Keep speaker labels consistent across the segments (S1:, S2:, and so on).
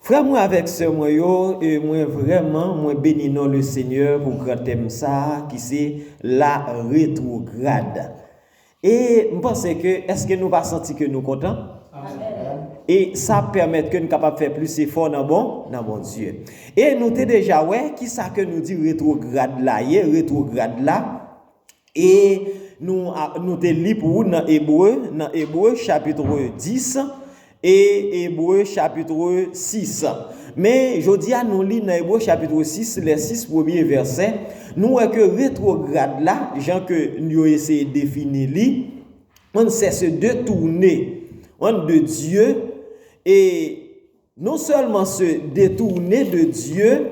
S1: Frè mwen avèk sè mwen yo, mwen vrèman mwen beni non le Senyè pou gran tèm sa a ki se la retrograd. E m panse ke eske nou pa santi ke nou kontan? E sa ap pèmèt ke n kapab fè plis efò nan bon, nan Bondye. E nou te deja wè kisa ke nou di retrograd la ye, retrograd la. E nou te li pou ou nan Ebre, nan Ebre, chapitre 10, e Ebre, chapitre 6. Men, jodi a nou li nan Ebre, chapitre 6, lè 6 premye vèsè, nou wè ke retrograd la, jan ke yo eseye defini li, an sè se de toune, an de Dieu, e non sèlman se de toune de Dieu,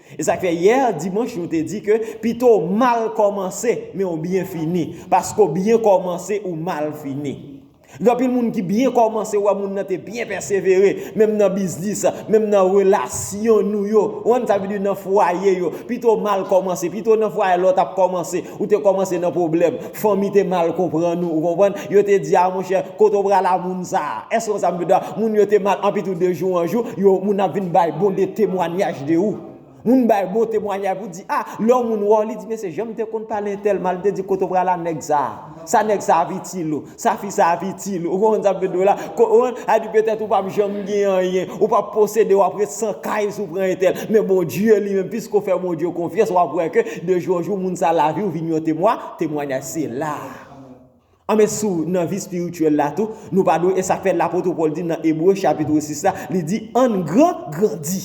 S1: E sa k fè yè dimanch nou te di ke pito w mal kòmanse men ou byen fini. Paske ou byen kòmanse ou mal fini. Gen anpil moun ki byen kòmanse ou wè moun nan te byen pèsevere menm nan biznis, menm nan relasyon nou yo. Ou konprann sa m vle di nan fwaye yo. Pito w mal kòmanse, pito nan fwaye lòt ap kòmanse. Ou te kòmanse nan pwoblèm. Fanmi te mal konprann ou, ou konprann? Yo te di, a monchè, kote w pral a moun sa a? Èske w konn sa m vle di a? Moun yo te mal, anpi tou de jou an jou, yo, moun ap vin bay bon de temwanyaj de ou. Moun bay bon temwanyaj pou di, a, lè yon moun wè w, li di, mesye, jan m te konn pale entèl mal, m te di, kote w pral a nèg sa a? Sa nèg sa a ap itil ou? Sa fi sa ap itil. Ou konprann sa m vle di w la? Ou konprann? Sa vle di petèt ou pa p janm gen anyen. Ou pa p posede. W ap ret san kay si w pran entèl. Men Bondye li menm, piske w fè Bondye konfyans, w ap wè ke de jou an jou moun sa lavi w vin yon temwa, temwanyaj. Se la a. Anben si w nan vi espirityèl la tou, nou pa dwe e sa k fè lapot Pòl di nan Ebre chapitre 6 la, li di, Ann gran, grandi.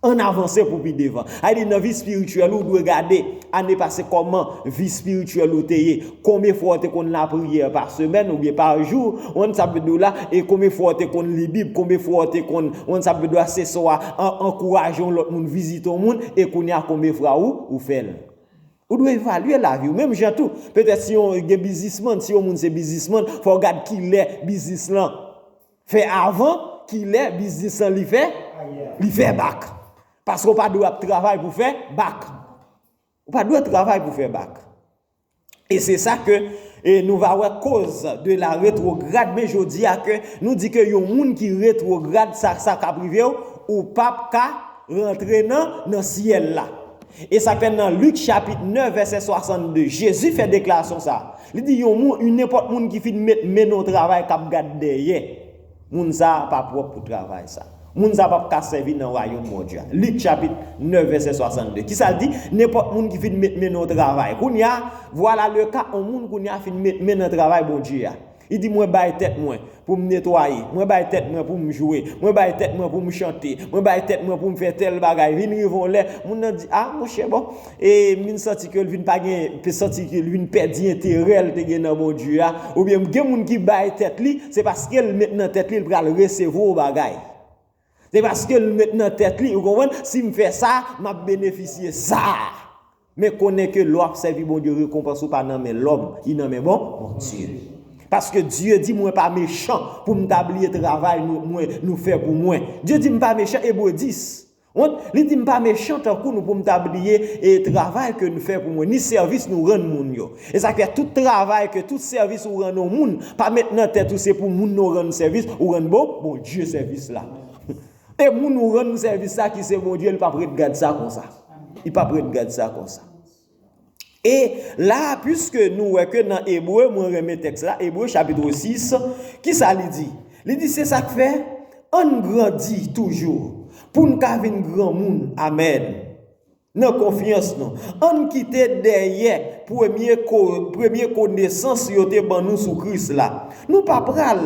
S1: Ann avanse pou pi devan. Sa vle di nan vi espirityèl ou, ou dwe gade ane pase kòman vi espirityèl ou te ye. Konbyen fwa ou te konn lapriyè pa semèn oubyen pa jou. Ou konn sa m vle di w la? E konbyen fwa ou te konn li Bib? Konbyen fwa ou te konn, ou konn sa m vle di w la, se swa ankouraje yon lòt moun, vizite yon moun? E kounye a konbyen fwa ou fè l? Ou dwe evalye lavi w. Menm jan tou, petèt si yon gen biznismann, si yon moun se biznismann, fò w gad kilè biznis lan Fè avan kilè biznis lan li fè li fè bak paske ou pa dwe ap travay pou fè bak ou pa dwe travay pou fè bak e se sa ke e nou va wè koz de la retrograd men jodi a ke nou di ke yon moun ki retrograd sa sa kap rive ou ou pap ka rantre nan nan syèl la e sa fè nan lik chapit 9 vèsè 62 jezi fè deklarasyon sa. Li di yon moun, yon nenpòt moun ki fin met men nan yon travay k ap gad dèyè, moun sa a pa pwòp pou travay sa a. Moun sa a pap ka sèvi nan wayòm Bondye a. Lik chapit 9 vèsè 62. Kisa l di? Nenpòt moun ki fin met men nan yon travay. Kounye a, vwala leka yon moun kounye a fin met men nan travay Bondye a. Li di, Mwen bay tèt mwen. Pou m netwaye. Mwen bay tèt mwen pou m jwe. Mwen bay tèt mwen pou m chante. Mwen bay tèt mwen pou m fè tèl bagay. Vin rive yon lè, moun nan di, a, monchè bon, e, m vin santi ke l vin pa gen, m santi ke l vin pèdi enterè l te gen nan Bondye a. Oubyen, gen moun ki bay tèt li, se paske l met nan tèt li l pral resevwa yon bagay. Se paske l met nan tèt li, ou konprann, si m fè sa, m ap benefisye sa. Men konnen ke lè w ap sèvi Bondye, rekonpans ou pa nan men lòm, li nan men bon, Bondye. Paske Dye di mwen pa mechan pou m ta bliye travay nou mwen, nou fè pou mwen. Dye di m pa mechan, Ebre 10. Wont, li di m pa mechan tankou nou pou m ta bliye e travay ke n fè pou mwen, ni sèvis nou rann moun yo. E sa k fè tout travay ke tout sèvis ou rann yon moun, pa met nan tèt ou se pou moun nan w rann sèvis, ou rann bon, Bondye sèvis la. E moun ou rann sèvis la ki se Bondye li p ap ret gad sa konsa. Li p ap ret gad sa konsa. E la a, piske nou wè ke nan Ebre, mwen renmen tèks la, Ebre chapitre 6, ki sa li di? Li di, se sa k fè, ann grandi toujou, pou n ka vin granmoun. Amèn. Nan konfyans nou. Ann kite dèyè premye premye konesans yo te ban nou sou Kris la. Nou pa pral.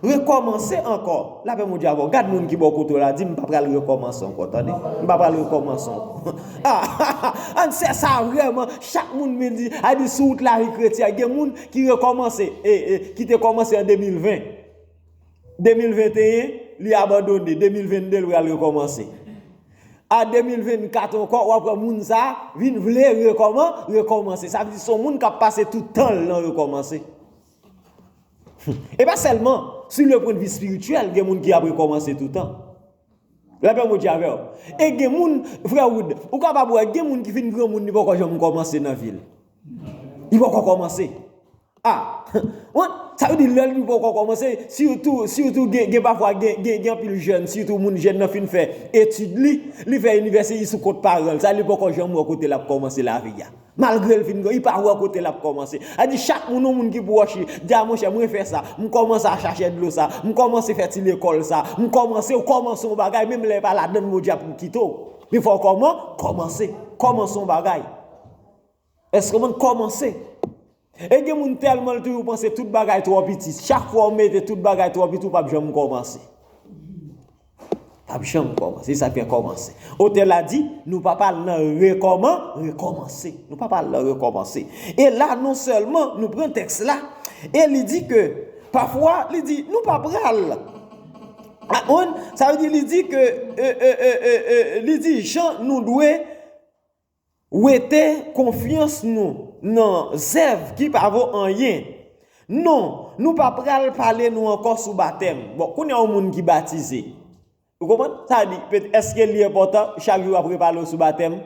S1: Rekòmanse ankò. Lapè Bondye avè w. Gad moun ki bò kote w la, di, M pa pral rekòmanse ankò, tande. M pa pral rekòmanse ankò. Ahaha! Ann sè sa vrèman, chak moun vin di, a di sou wout lavi kretyen an, gen moun ki rekòmanse, e, e, ki te kòmanse an 2020. 2021, li abandone, 2022 l pral rekòmanse. A 2024 ankò wap wè moun sa vin vle rekòman, rekòmanse. Sa vle di son moun kap pase tout tan l nan rekòmanse. E pa sèlman, si le pwendvi espirityèl gen moun ki ap rekòmanse toutan. Lapè Bondye avèw. E gen moun, frè Wood, ou kapab wè gen moun ki fin granmoun li poko janm kòmanse nan vi l. Li poko komanse. Ah! What? Sa vle di lè li poko komanse, sitou, sitou gen pafwa gen anpil jèn, sitou moun jèn nan fin fè etid li, li fè inivèsite li sou kont paran l, sa li poko janm wè kote lap komanse lavi a. Malgre l fin gran, li pa wè kote lap komanse. A di chak moun yon moun ki pwòch li, di a monchè mwen fè sa, m komanse a chache dlo sa, m komanse fè ti lekòl sa, m komanse, ou komanse yon bagay menm lè e pa ladann Bondye ap kite w. Men fò w koman, komanse. Komanse yon bagay. Eske moun komanse? E gen moun telman l toujou panse tout bagay tro piti chak fwa ou mete tout bagay tro piti ou pap janm komanse. Pap janm komanse se sak fe komanse. Otè la di nou pap al nan rekoman rekomanse. Nou pap al nan rekomanse. E la non selman nou pran teks la e li di ke pafwa li di nou pa pral Aponn sa vle di li di ke e e e e e li di jan nou dwe Wete konfyans nou nan zèv ki pa vo anyen. Non, nou pa pral pale nou ankò sou batèm. Bon, kounye a yon moun ki batize. Ou konprann? Sa vle di, èske li enpòtan chak jou w ap repale w sou batèm?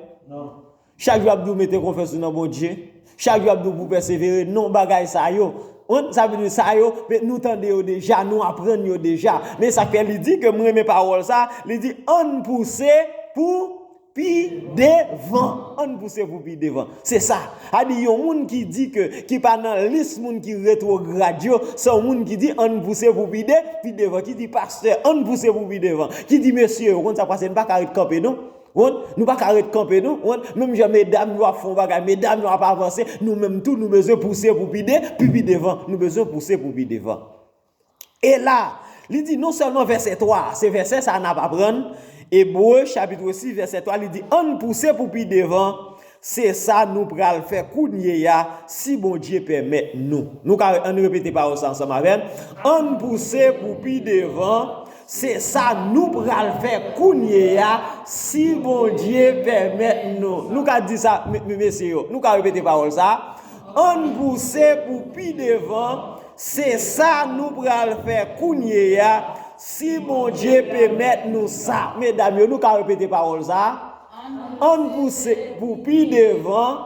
S1: Chak jou w ap di w mete konfyans ou nan Bondye? Chak jou ap di w pou w pèsevere, non bagay sa yo, on, sa vle di sa yo, men nou tande yo deja, nou aprann yo deja. Men sa k fè li di ke m renmen pawòl sa a, li di, ann pouse pou pi devan, ann pouse pou pi devan. Se sa. A di yon moun ki di ke, ki pa nan lis moun ki retwograd yo, se yon moun ki di ann pouse pou pi de, pi devan, ki di pastè ann pouse pou pi devan, ki di mesye, ou konn sa k pase, n pa ka ret kanpe non. One nou paka ret kanpe non one menm jan medam yo ap fon bagay medam yo ap avanse nou menm tou nou bezwen pouse pou pi de pou pi devan nou bezwen pouse pou pi devan e la li di non sèlman vèsè 3 se vèsè sa nap aprann ebre chapitre 6 vèsè 3 li di ann pouse pou pi devan Se sa nou pral fè kounye a, si Bondye pèmèt nou. Nou ka ann repete pawòl sa ansanm avè m, Ann pouse pou pi devan. Se sa nou pral fè kounye a, si Bondye pèmèt nou. Nou ka di sa, mesye yo. Nou ka repete pawòl sa, Ann pouse pou pi devan. Se sa nou pral fè kounye a, si Bondye pemèt nou sa. Medam yo, nou ka repete pawòl sa. Ann pouse pou pi devan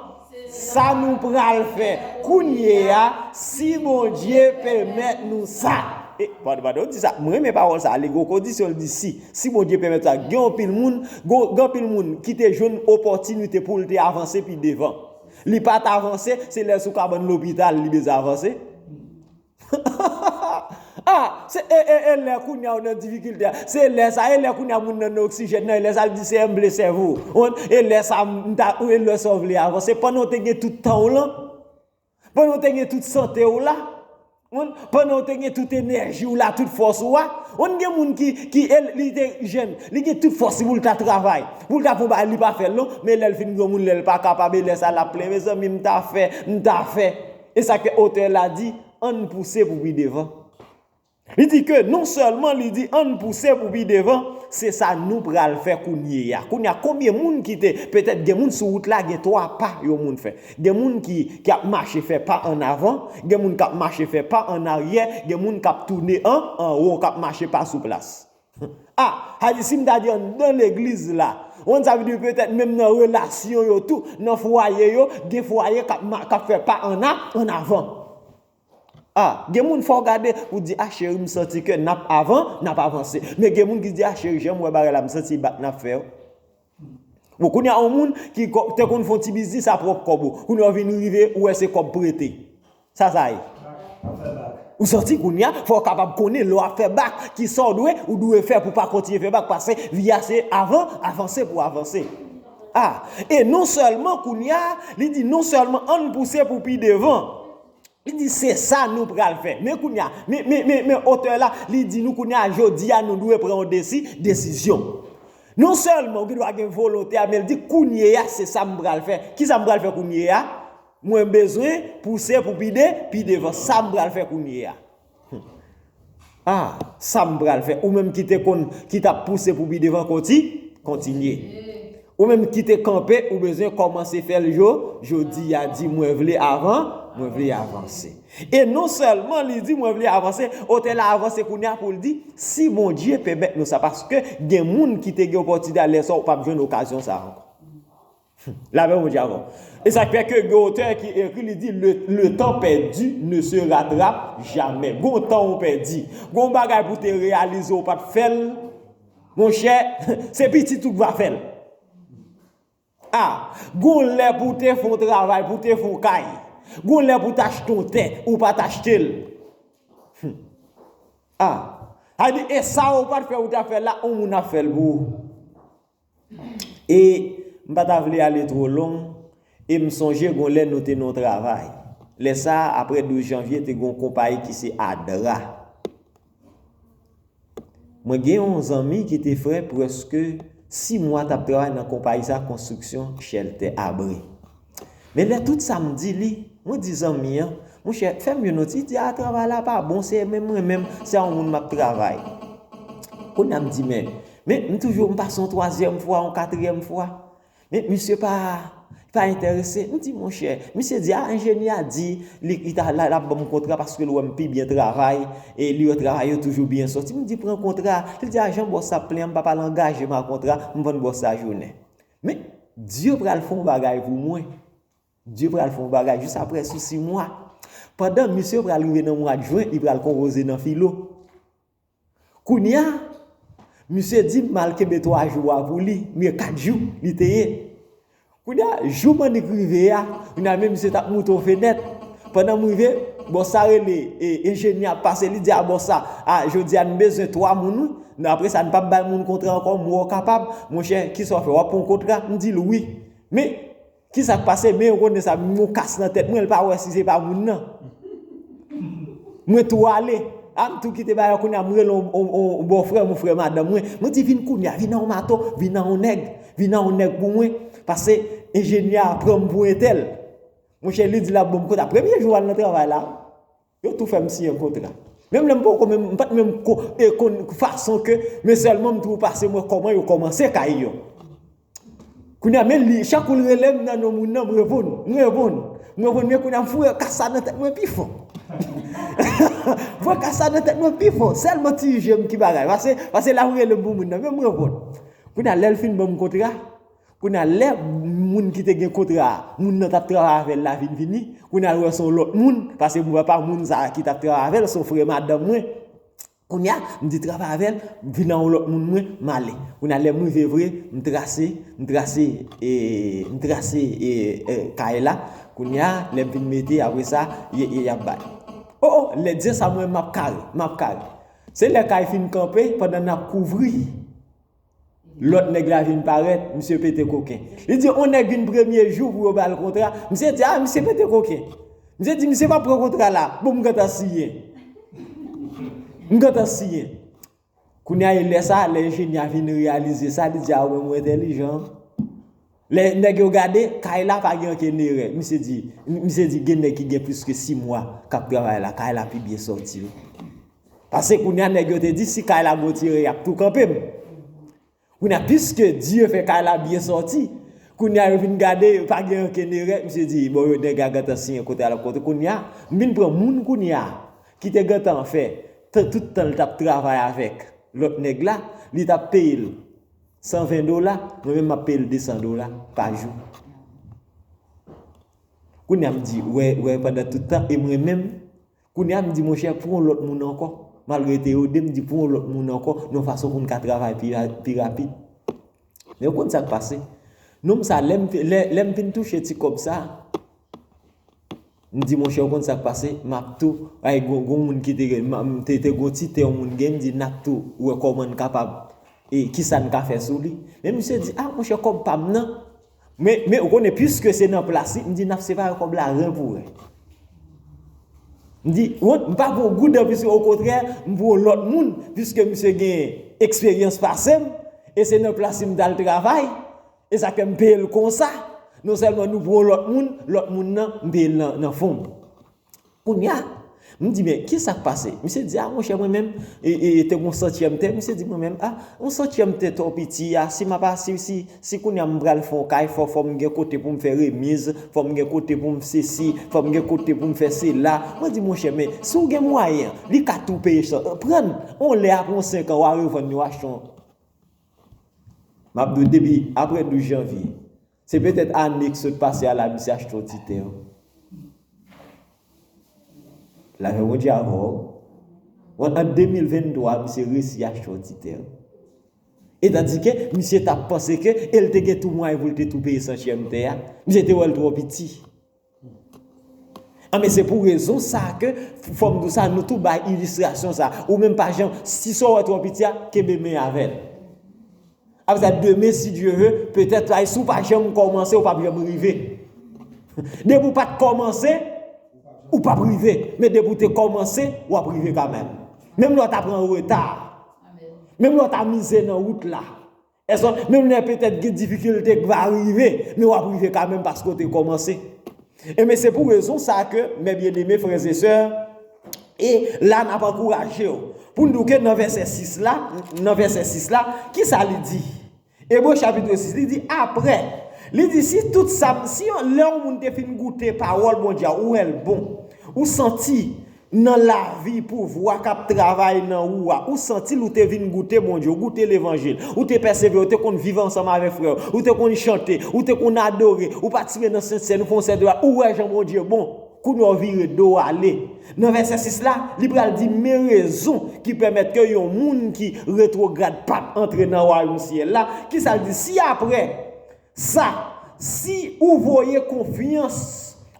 S1: sa nou pral fè kounye a si Bondye pèmèt nou sa. E, pardon, pardon, di sa, mwen renmen pawòl sa, li gwo kondisyon li di si. Si Bondye pèmèt sa, gen yon pil moun, gen pil moun ki te jwenn opòtinite pou l te avanse pi devan. Li pa t avanse, se lè sou kabann lopital li bezwen avanse. Hahahaha ah se e e e lè kounya ou nan difikilte a se e lè sa e lè kounya moun nan nan oksijèn nan e lè sa li di se enble sèvo ou konprann e lè sa m ta ou e lè sa ou vle avanse pandan ou te gen tout tan w lan pandan ou te gen tout sante w la ou konprann pandan ou te gen tout enèji w la tout fòs ou a ou konn gen moun ki ki e li te jèn li gen tout fòs li pou l ta travay pou l ta fè yon bagay li pa fè l non men lè l fin granmoun lè l pa kapab e lè sa l ap plenyen mezanmi m ta fè m ta fè E sa ke otè la di, ann pouse pou pi devan. Li di ke non sèlman li di ann pouse pou pi devan, se sa nou pral fè kounye a. Kounye a konbyen moun ki te, petèt gen moun sou wout la gen 3 pa yon moun fè. Gen moun ki ap mache fè pa ann avan, gen moun k ap mache fè pa ann aryè, gen moun k ap toune an, an wo k ap mache pa sou plas. Ah Haïti si m ta di anndan legliz la Wan sa vle di petèt menm nan relasyon yo tou nan fwaye yo gen fwaye kap ma kap fè pa an a an avan Ah gen moun fò w gade pou di ah cheri m santi ke nap avan nap avanse men gen moun ki di ah cheri jan m wè bagay la m santi bat nap fè yo Bon kounye a yon moun ki te konn fon ti biznis a pwòp kòb ou, kounye a ou vin rive ou wè se kòb prete. Sa sa ye? Ou santi kounye a fò ou kapab konnen lè w ap fè bak ki sa ou dwe, ou dwe fè pou pa kontinye fè bak pase vi a se avan, avanse pou avanse. A, e non sèlman kounye a, li di non sèlman an n pouse pou pi devan. Li di se sa nou pral fè. Men kounye a, men, men, men, men otè la, li di nou kounye a jodi a nou dwe pran yon desi, desizyon. Non sèlman ou gen dwa gen volonte a men li di kounye a se sa m pral fè. Ki sa m pral fè kounye a? Mwen bezwen pouse pou pi de, pi devan. Sa m pral fè kounye a? Ah, sa m pral fè. Ou menm ki te konn, ki t ap pouse pou pi devan konti, kontinye. Ou menm ki te kanpe, ou bezwen kòmanse fè l jo, jodi a di mwen vle avan, mwen vle avanse. E non sèlman li di mwen vle avanse, otè la avanse kounya poul di si Bondye pèmèt nou sa paske gen moun ki te gen opòtinite al lè sa ou pap jwenn okazyon sa ankò. Hum, lapè Bondye avèw. E sak fè ke gen otè ki ekri li di le le tan pèdi ne se ratrap jamè. Gon tan ou pèdi, gon bagay pou te reyalize ou pat fèl, monchè se pitit ou k va fèl. A, Gon lè pou w te fè yon travay, pou w te fè yon kay. Gon lè pou w te achte yon tè, ou pa t achte l. Hum. A, Sa vle di, e sa ou pa t fè, ou ta fè l la, yon moun ap fè l pou ou. E, M pa ta vle ale two long, e m sonje gon lè nou te nan yon travay. Lè sa a, apre 12 janvye, te gen yon konpayi ki se Adra. Mwen gen yon zanmi ki te fè prèske 6 mwa tap travay nan konpayi sa konstriksyon chèltè abri. Men lè tout sa m di li, mwen di zanmi an, monchè fè m yon noti, li di a travay la pa bon se menm mwen menm se a yon moun map travay. Kounya m di men, men m toujou m pa son twazyèm fwa, yon katryèm fwa. Men misye pa pa entèrese. M di monchè, misye di a enjenyè a di li li ta lap banm kontra paske l wè m pi byen travay e li wè travay yo toujou byen soti. M di pran kontra a. Li di a jan bòs sa ap plen an m pa pa al angaje m a kontra, m vann bòs sa jounen. Men, Dye pral fè yon bagay pou mwen. Dye pral fè yon bagay jis aprè sou si mwa. Pandan misye pral rive nan mwad jen, li pral konpoze nan filo. Kounya misye di m al kenbe 3 jou a pou li, oubyen 4 jou li te ye. Kounya jou Mannik rive a, kounya men misye tap moute yon fenèt. Pandan m rive, bòs sa rele, enjenyè ap pase li di a bòs sa, a jodi a n bezwen 3 moun wi, nan apre sa n pap bay moun kontra ankò, m wè w kapab, monchè kisa w fè, w ap pran w kontra, m di l wi. Men. Kisak pase men Rone sa m yon kas nan tèt mwen l pa wè si se pa moun nan mwen tou ale a m tou kite bagay kounya m rele yon bòfrè m yon frè madanm mwen mwen di vin kounya vin nan yon maton vin nan yon nèg vin nan yon nèg pou mwen pase enjenyè a pran m pou entèl monchè li di l ap ban m kontak premye jou al nan travay la. Yo tou fèm siyen kontra. Menm lèm poko menm m pat menm konn fason ke men sèlman m tou pase mwen kòman yo kòmanse kay yo. Kounye a men li chak kou l relem nan non moun nan m reponn, m reponn, m reponn men kounye a m foure kas sa nan tèt mwen pi fon. Foure kas sa nan tèt mwen pi fon sèlman ti jem ki bagay pase lap relem pou moun nan men m reponn. Kounye a lèl fin banm kontra. Kounye a lè moun ki te gen kontra a, moun nan t ap travay avè l la vin vini, kounye a l wè se yon lòt moun, paske m wè pa moun sa a ki t ap travay avè l, se yon frè madanm mwen. Kounye a, m di travay avè l, vin ak yon lòt moun mwen, m ale. Kounye a lè m rive vre, m trase, m trase, m trase kay la, kounye a lè m vin mete apre sa, y ap bay. O o, lè diyen sa mwen m ap kare, m ap kare. Se lè kay fin kanpe, pandan n ap kouvri. Lòt nèg la vin parèt, misye pete koken. Li di on nèg vin premye jou pou yo ba l kontra, misye di a misye pete koken. Misye di misye pa pran kontra la, bon m gentan siyen. M gentan siyen. Kounye a e lè sa, lè enjenyè a vin reyalize sa, li di a ou menm ou entèlijan. Lè nèg yo gade, kay la pa gen ankenn erè. Misye di, misye di gen nèg ki gen plis ke 6 mwa k ap travay la, kay la pi byen sòti wi. Pase kounye a nèg yo te di si kay la gwo tirè y ap tou kanpe m. Kounye a piske Dye fè kay la byen sòti, kounye a yo vin gade yo pa gen ankenn erè. Misye di bon yo nèg la gentan siyen kote al ap kote. Kounye a, m vin pran moun kounye a ki te gentan fè tan tout tan l t ap travay avèk lòt nèg la, li t ap peye l. 120 dola, mwen menm map peyel 200 dola pa jou. Kounya m di, wè, wè pandan tout tan e mwen menm, kounya m di monchè pou yon lòt moun ankò, malgre te yo 2 m di pou yon lòt moun ankò, yon fason pou m ka travay pi rapid. Men ou konn sak pase? Nonm sa lè m fin touche ti kòb sa, M di monchè ou konn sak pase map tou ay gon gon moun ki te gen m te te gon ti tè yon moun gen m di nap tou wè kòman n kapab e kisa n ka fè sou li men misye di a monchè kòb pa m nan men men ou konnen piske se nan plas li m di nap separe kòb la ren pou ren m di wont m pa pran goud anplis o kontrè m pran yon lòt moun piske misye gen eksperyans pase m e se nan plas li m t al travay Esa fè m peye l konsa, non sèlman nou pran yon lòt moun, lòt moun nan m peye l nan fon m. Kounya, m di men, kisa k pase? Misye di a monchè mwen menm, te gen yon santyèm tè, misye di mwen menm a, yon santyèm tè to piti a, si m ap a, si kounya m pral fè yon kay, fò fò m gen kote pou m fè remiz, fò m gen kote pou m sesi, fò m gen kote pou m fè sela. Mwen di monchè men, si w gen mwayen, li ka tou peye, pran l, yon lè apre yon senkan wa revann li, wa achte yon. M ap di w depi apre 12 janvye, se petèt ane k sot pase a Larisi achte yon ti tè. Lajè Bondye avè w. Ant 2023 a misye resi achte yon ti tè. Etandike misye t ap panse ke e l te gen tou mwayen pou l te tou peye santyèm tè a. Misye te wè l twò piti. Anben se pou rezon sa ke fòm di w sa nou tou bay ilistrasyon sa. Ou menm pa janm, si sa w wè twò piti a, kenbe men avè l. Apre sa demen si Dye ve, petèt la si w pa janm kòmanse ou pap janm rive. Depi w pa t kòmanse, ou pap rive. Men depi w te kòmanse, w ap rive kanmèm. Menm lè w ta pran reta, menm lè w ta mize nan wout la, Èske menm lè petèt gen difikilte k va rive, men w ap rive kamenm paske w te kòmanse? Enben, se pou rezon sa a ke, mè byeneme frèzesè, e la n ap ankouraje w pou n di w ke nan vèsè 6 la, nan vèsè 6 la, ki sa li di? Ebre chapitre 6, li di, Apre, li di, si tout sa m, si yon, lè yon moun te fin goute pawòl Bondye a, ou wè l bon, ou santi. Nan lavi pouvwa kap travay nan ou a, ou santil ou te vin goute Bondye, ou goute levanjil, ou te pèsevere, ou te konn viv ansanm avèk frè yo, ou te konn chante, ou te konn adore, ou patisipe nan sent sèn, ou fè yon sèten bagay, ou wè jan Bondye bon, kounye a ou vire do ou ale. Nan vèsè 6 la, li pral di men rezon ki pèmèt ke yon moun ki retwograd pap antre nan wayom syèl la, kisa l di si aprè Sa, si ou voye konfyans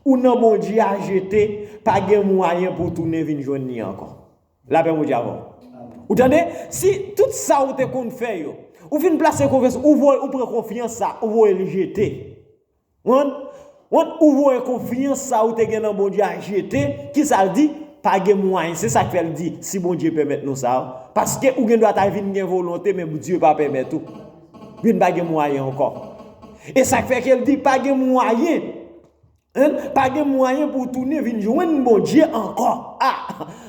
S1: ou nan Bondye a jete, pa gen mwayen pou w tounen vin jwenn li ankò. Lapè Bondye avè w. Ou tande? Si tout sa ou te konn fè yo, ou fin plase konfyans, ou voye, ou pran konfyans sa, ou voye l jete. Ou konprann? Wont ou voye konfyans sa ou te gen nan Bondye a jete, kisa l di, pa gen mwayen, se sak fè l di, si Bondye pèmèt nou sa, paske ou gen dwa ta vin gen volonte men Bndye pa pèmèt ou, vin pa gen mwayen ankò. E sak fè ke l di pa gen mwayen, en, pa gen mwayen pou w tounen vin jwenn Bondye ankò, a,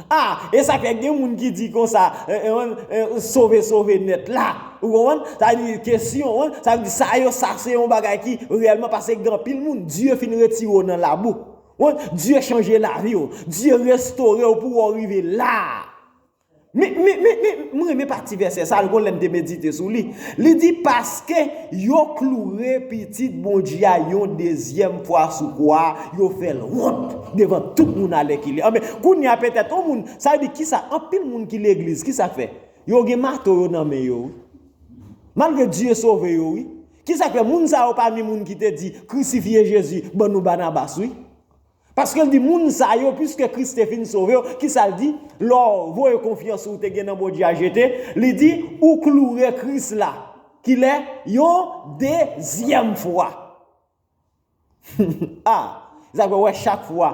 S1: a, e sak fè gen moun ki di konsa, en, en, sove sove nèt la. Ou konprann? Sa vle di ke si yon moun, sa vle di sa yo sa se yon bagay ki reyèlman pase gen anpil moun Dye fin retire w nan labou. Ou konprann? Dye chanje lavi w. Dye restore w pou wè w rive la a. Men, men, men, men, m renmen pati vèsè sa a, gon lè m te medite sou li. Li di, Paske yo kloure Pitit Bondye a yon dezyèm fwa sou kwa a, yo fè l wont devan tout moun alèkile. Anben, kounye a petèt yon moun, sa vle di kisa anpil moun ki legliz, kisa k fè? Yo gen mato yo nan men yo wi. Malgre Dye sove yo wi. Kisa k fè moun sa yo pami moun ki te di, Krisifye Jezi, ban nou Banabas wi? Paske l di moun sa yo, piske Kris te fin sove yo, kisa l di? Lè w voye konfyans ou te gen nan Bondye a jete, li di, ou kloure Kris la. Kilè? Yon dezyèm fwa. Ah! Zak mwen wè chak fwa.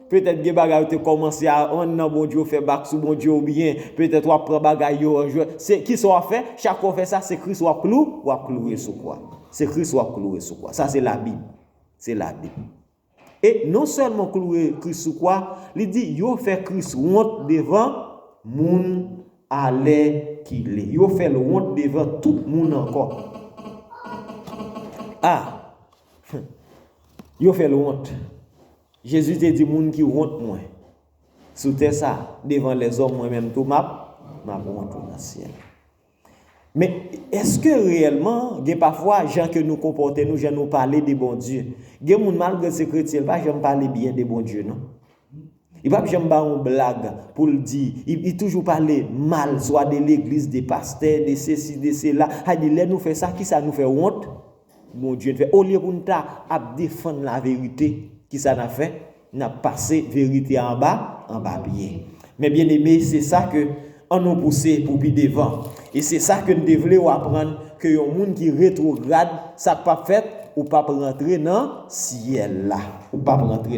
S1: Petèt gen bagay ou te kòmanse a an nan Bondye ou fè bak sou Bondye oubyen petèt wap pran bagay yo an jwèt. Se kisa wap fè? Chak fwa ou fè sa se Kris wap klou? Wap kloure sou kwa. Se Kris wap kloure sou kwa. Sa se labib. Se labib. E non sèlman w kloure Kris sou kwa, li di yo fè Kris wont devan moun Alè kile yo fè l wont devan tout moun ankò. A! Hum! Yo fè l wont. Jezi te di moun ki wont mwen sou tè sa a, devan lèzòm mwen menm tou m ap m ap wont ou nan syèl. Men, èske reyèlman gen pafwa jan ke nou konpòte nou, jan nou pale de Bondye? Gen moun malgre l se kretyen l pa janm pale byen de Bondye non. Li pap janm ba yon blag poul di, li toujou pale mal swa de legliz, de pastè, de sesi, de sela, hay di lè nou fè sa kisa nou fè wont? Bondye n fè olye poun ta ap defann la verite kisa nap fè? Nap pase verite a anba anba pye. Mes bien aime se sa ke an nou pouse pou pi devan e se sa ke n te vle ou aprann ke yon moun ki retrograd sa k pap fèt ou pap rantre nan syèl la ou pap rantre nan